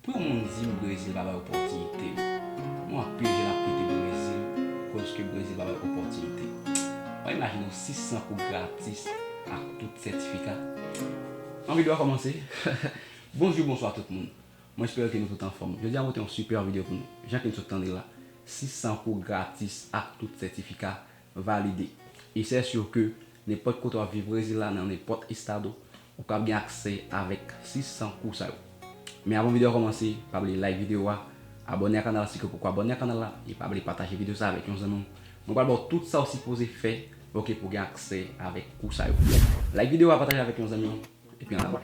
Pwen moun dim Brezil pa bay opòtinite Mwen anpil jèn ap kite Brezil koz ke Brezil pa bay opòtinite Mwen imajine w 600 kou gratis ak tout sètifika Yon video a kòmanse Bonjou bonswa tout moun Mwen espere ke nou tout anfòm Jodi a mwen pote yon super video pou nou Jan ke nou sot tande la 600 kou gratis ak tout sètifika Valide. E sè sur ke nenpòt kote wap viv Brezil la nan nenpòt estado ou kap gen aksè avèk 600 kou sa yo. Men avan video a kòmanse pa bliye like video a, abòne a kanal la si ke w poko abòne a kanal la e pa bliye pataje video sa avèk yon zanmi w. Mwen pral baw tout sa w sipoze fè ok pou w gen aksè avèk kou sa yo. Like video a pataje avèk yon zanmi w. Epi an avan.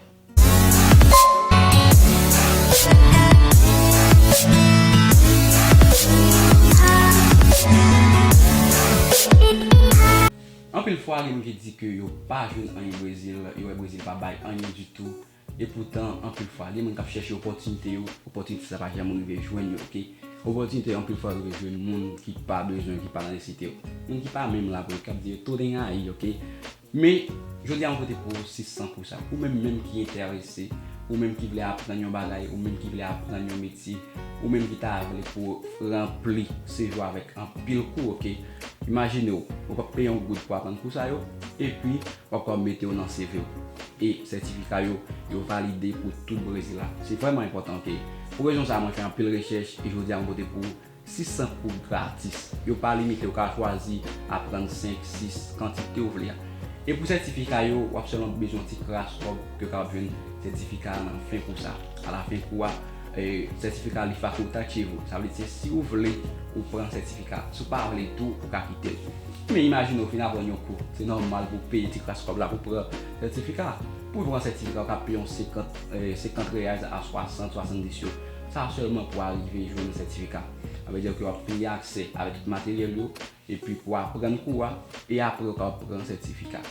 Anpil fwa gen moun ki di ke yo pa jwenn anyen Brezil, yo wè Brezil pa bay anyen ditou, epoutan anpil fwa gen moun kap chèche opòtinite yo, opòtinite sa pa janm rive jwenn yo ok. Opòtinite yo anpil fwa rive jwenn moun ki pa bezwen yo, ki pa nan nesesite yo. Moun ki pa menm la pou yo, kap di yo tounen ayi ok. Men, jodi a mwen pote pou ou 6 san pou sa. Ou menm menm ki enterese, ou menm ki vle aprann yon bagay, ou menm ki vle aprann yon metye, ou menm ki ta vle pou ou ranpli CV ou avèk anpil kou, ok. Imajine ou, ou pap peye yon goud pou aprann kou sa yo, epi w ap kapab mete yo nan CV ou. E sètifika yo, yo valide pou tout Brezil la. Se vrèman enpòtan, ok. Pou rezon sa a mwen fè anpil rechèch, e jodi a mwen pote pou ou. 600 kou gratis. Yo pa limite, ou ka chwazi aprann 5, 6, kantite ou vle a. E pou sètifika yo, w ap sèlman bezwen yon ti kras kòb ke w kapab jwenn sètifika a nan fen kou sa. A la fen kou a, sètifika a li fakultativo, sa vle di se si ou vle ou pran sètifika a, si ou pa vle tou ou ka kite l. Men imajine ou fin aprann yon kou, se nòmal pou w peye ti kras kòb la pou w pran sètifika a. Pou w pran sètifika ou ka peye yon 50, 50 reais a 60, 70 yo. Sa sèlman pou arive jwenn sètifika. Sa vle di ke w ap peye aksè avèk tout materyèl yo, epi pou aprann kou a, e apre ou kapab pran sètifika.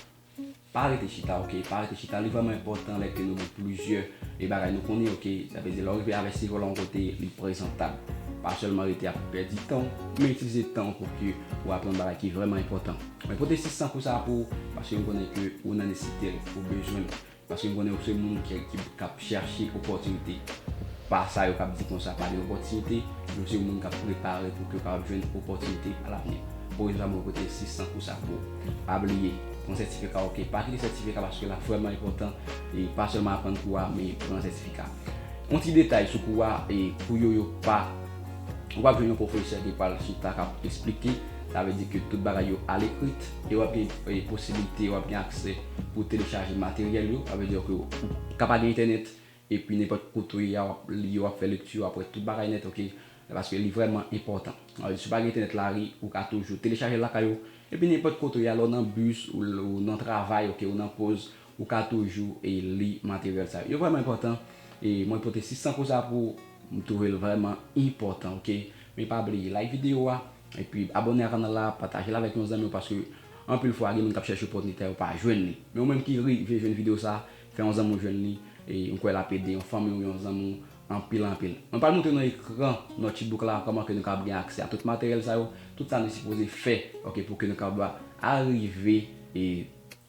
Pa rete chita ok, pa rete chita, li vrèman enpòtan lè ke nou gen plizyè e bagay nou konnen ok, sa vle di lè ou rive avèk seve w la yon kote, li prezantab. Pa sèlman rete ap pèdi tan w, men itilize tan w pou ke ou aprann bagay ki vrèman enpòtan. Mwen pote 6 san kou sa pou ou, paske m konnen ke ou nan nesite l, ou bezwen l. Paske m konnen ou se moun ki kap chèche opòtinite. Pa sa yo kap di konsa pa gen opòtinite, men ou se yon moun kap prepare pou ke ou kapab jwenn opòtinite a lavni. Pou rezon sa mwen pote 600 kou sa pou ou. Pa bliye, pran sètifika ok. Pa kite sètifika paske lap vrèman enpòtan e pa sèlman aprann kou a men pran sètifika. Yon ti detay sou kou a, e kou yo yo pa ou pap jwenn yon pwofesè ki pral chita kap esplike, sa vle di ke tout bagay yo alekrit. E w ap gen posibilite, w ap gen aksè pou w telechaje materyèl yo. Sa vle di ke ou ka pa gen entènèt, epi nenpòt kote ou ye a, w ap li, w ap fè lekti, w ap wè tout bagay nèt, oke. Paske li vrèman enpòtan. Sa vle di si w pa gen entènèt nan lari, ou ka toujou telechaje l lakay ou. Epi nenpòt kote ou ye a, lè w nan bis, ou nan travay, oke, ou nan poz, ou ka toujou li materyèl sa yo. Yo vrèman enpòtan. E mwen pote 6 sankou sa pou ou. M twouve l vrèman enpòtan, oke. Men pa bliye like videyo a. Epi abòne a kanal la, patajel avèk yon zanmiw paske anpil fwa gen moun kap chèche opòtnite a yo pa jwenn li. Men ou menm ki rive jwenn video sa, fè yon zanmiw jwenn li, e mkwè lap ede yon fanmiw ou yon zanmiw anpil anpil. Mwen pral montre nan ekran notebook la kòman ke nou kapab gen aksè a tout materyèl sa yo, tout sa nou sipoze fè ok pou ke nou kapab arive e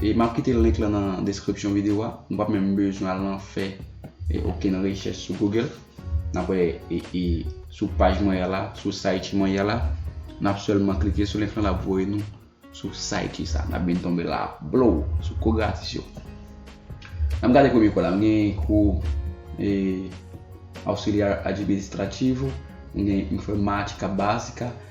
E map kite link lan nan deskripsyon video a, nou pap menm bezwen al nan fè okenn rechèch sou google, nap wè e sou paj mwen la, sou site mwen ya la, nap sèlman klike sou link lan lap voye nou sou site sa, nap byn tonbe la blow sou kou gratis yo. Nap gade premye kou la, nou gen kou e auxiliar administrativo, nou gen informatica basica,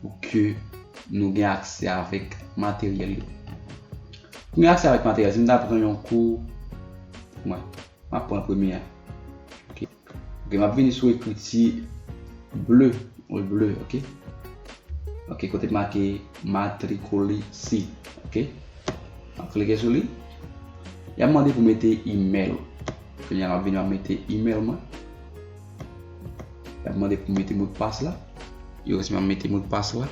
pou ke nou gen aksè avèk materyèl yo. Pou gen aksè avèk materyèl, si m ta pran yon kou, mwen, m ap pran premye a. Ok, m ap vini sou ekriti ble, wè ble, ok. Ok, kote m make matrikule si, ok. M ap klike sou li. Y ap mande pou mete email ou. Kounye a m ap vini m ap mete email mwen. La mande pou mete mot pas la. Yo resman mete mot pas la.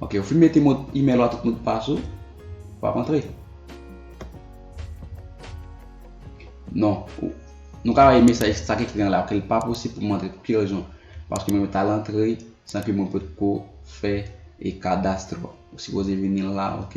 Ok, ou fin mete mot email la tout mot pas ou. Pa rentre. Non, nou ka wè mesaj sa ki ekri an la, ke l pa posib pou mwen antre pou ki rezon. Paske mwen ta lantre san ke mwen pot ko fè e kadastro. Ou sipoze vini la, ok.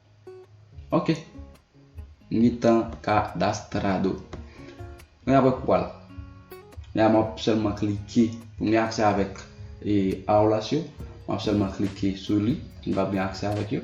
Ok. Mi tan kadastrado. Mwen apre kou al. Mwen ap ap selman klike. Pou mwen akse avèk e aoulas yo. Mwen ap selman klike sou li. Mwen ap gen akse avèk yo.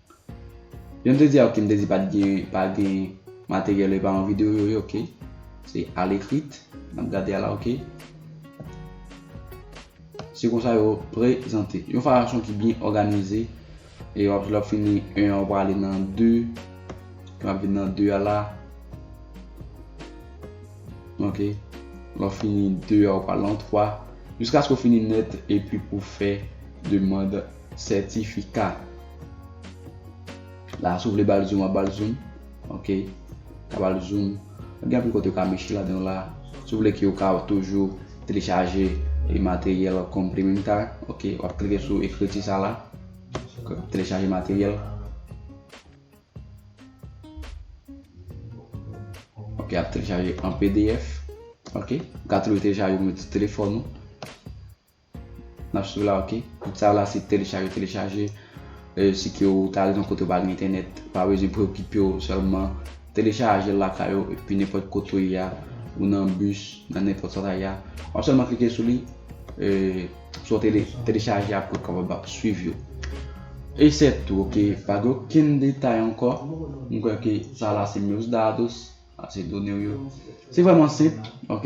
Jan m te di a ok m te di pat gen pa gen materyèl epa yon video yo ye ok se al ekrit nap gade a la ok se konsa yo prezante yon fason ki byen òganize e wap lòp fini 1 an wale nan 2 wap vin nan 2 a la ok lòp fini 2 a wale nan 3 jiskaske w fini nèt epi pou fè demande Sètifika. La si w vle ba l zoom wap ba l zoom. Ok. Ou ka ba l zoom. Gen anpil kote ou ka mechi ladan w la. Si w vle ke ou ka toujou telechaje e materyèl complementar. Ok. Wap klike sou ekriti sa la. Ok. Telechaje materyèl. Ok. Ap telechaje an pdf. Ok. Ou ka toujou telechaje ou met sou telefòn ou. Nap swiv la ok. Tout sa yo la se telechaje telechaje si ke ou ta al nan kote ou pa gen entènèt ou pa bezwen preokipe ou sèlman telechajel lakay ou epi nenpòt kote ou ye a ou nan bus nan nenpòt sa ou ta ye a wap sèlman klike sou li sou wap telechaje apre ou kapab ap swiv yo e se tou ok pa gen okenn detay ankò mwen kwè ke sa la se meus dados se donew yo se vrèman senp ok.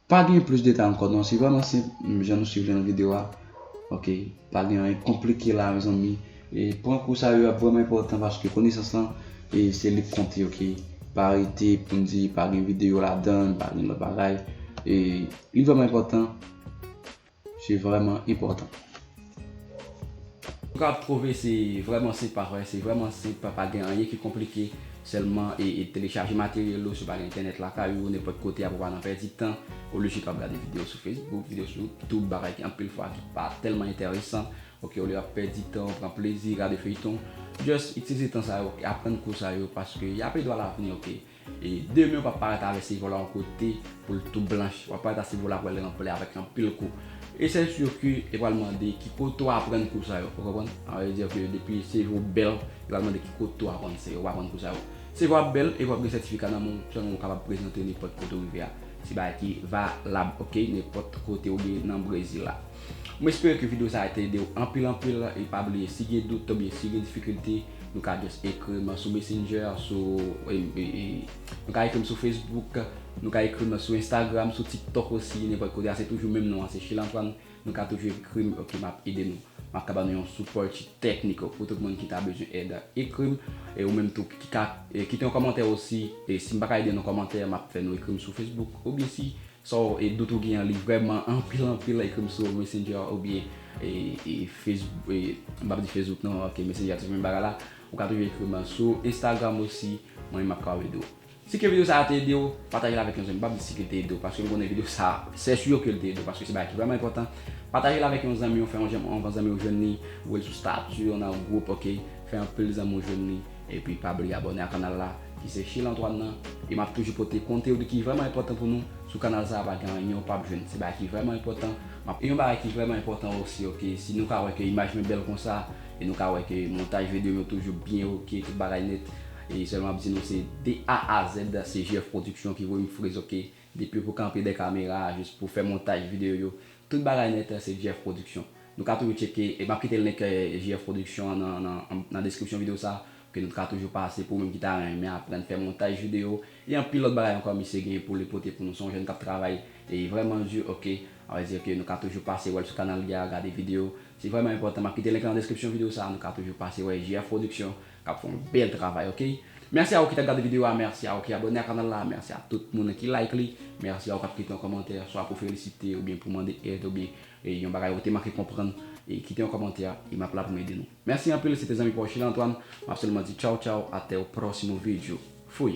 Pa gen plis detay ankò non se vrèman senp jan nou swiv li nan video a ok pa gen anyen konplike la mezanmi e pran kou sa yo ap vrèman enpòtan paske konesans lan e se li k konte ok pa rete pou n di pa gen video ladan pa gen lòt bagay e li vrèman enpòtan. Se vreman enpotan. Mka trouve se vreman senp pa vre? Se vreman senp pa gen anyen ki konplike selman telechaje materyel ou si w pa gen entènèt lakay ou nenpot kote apre w pa nan pèdi tan olye si w ap gade video sou facebook video sou youtube bagay ki anpil fwa ki pa telman entèresan ok olye w ap pèdi tan w pran plezi gade feyton just itilize tan sa yo aprann kou sa yo paske yap ede w alavni ok. E demen ou pap parèt avè silvo la yon kote pou l tou blanch. Wap parèt a silvo la pou al ranpli avèk anpil kou. E sè sur ke yo pral mande ki kote ou aprann kou sa yo. Ou konprann? Sa vle dir ke depi silvo bèl, yo pral mande ki kote ou aprann se ou aprann kou sa yo. Silvo a bèl epi wap gen sètifika nan men w sèlman ou kapab prezante nenpòt kote ou rive a. Se bagay ki valab ok nenpòt kote ou ye nan Brezil la. Mwen espere ke video sa a te ede ou anpil anpil e pa bliye si gen dout oubyen si gen difikilte, Nou ka just ekri m sou messenger, sou Nou ka ekri m sou Facebook, nou ka ekri m sou Instagram, sou TikTok osi, nenpòt kote a se toujou menm non an se Chilantoine, nou ka toujou ekri m ok map ede nou. Map ka ba nou yon support technical pou tout moun ki ta bezwen èd ekri m e ou menm tou ki ka kite yon kòmantè osi e si m pa ka ede nan kòmantè map fè nou ekri m sou Facebook oubyen si So e dout ou gen an li vrèman anpil anpil ekrim sou messenger oubyen e e facebook e m pap di facebook non ok messenger se menm bagay la ou ka toujou ekrim an sou instagram osi mwen menm map kapab ede w si ke video sa te ede w pataje l avèk yon zanmi m pap di si ke l te ede w paske m konnen video sa sè sur ke l te ede w paske se bagay ki vrèman enpòtan pataje l avèk yon zanmi w fè yon jan yon bon zanmi w jwenn li voye l sou status ou nan yon gwoup ok fè anpil zanmi w jwenn li. Epi pa bliye abòne a kanal la ki se Sheila Antoine nan e map toujou pote kontewd ki vrèman enpòtan pou nou sou kanal sa pa gen anyen ou pap jwenn se bagay ki vrèman enpòtan map Yon bagay ki vrèman enpòtan osi ok si nou ka wè ke imaj mwen bèl konsa e nou ka wè ke montaj vedeyo m yo toujou byen ok tout bagay nèt e sèlman map di nou se de A a Z se JF production ki voye m friz ok. Depi pou kanpe dè kamera jis pou fè montaj video yo tout bagay nèt la se JF production nou ka toujou tcheke e map kite link JF production an nan deskripsyon video sa ke nou ka toujou pase pou ou menm ki ta renmen aprann fè montaj video e anpil lòt bagay ankò misye gen pou li pote pou nou se yon jèn kap travay e vrèman du ok avè di ke nou ka toujou pase wèl sou kanal li a gade video se vrèman enpòtan map kite link la nan deskripsyon video sa nou ka toujou pase wè JF production Kap fè yon bèl travay ok. Merci a ou ki tap gade video a merci a ou ki abone a kanal la merci a tout moun ki like li merci a ou kap kite yon kòmantè swa pou felisite oubyen pou mande èd oubyen yon bagay ou te manke konprann e kite yon kòmantè e map la pou m ede nou merci anpil se te zanmi pa w Sheila Antoine map sèlman di tchaw tchaw atè ou próximo vídeo fui.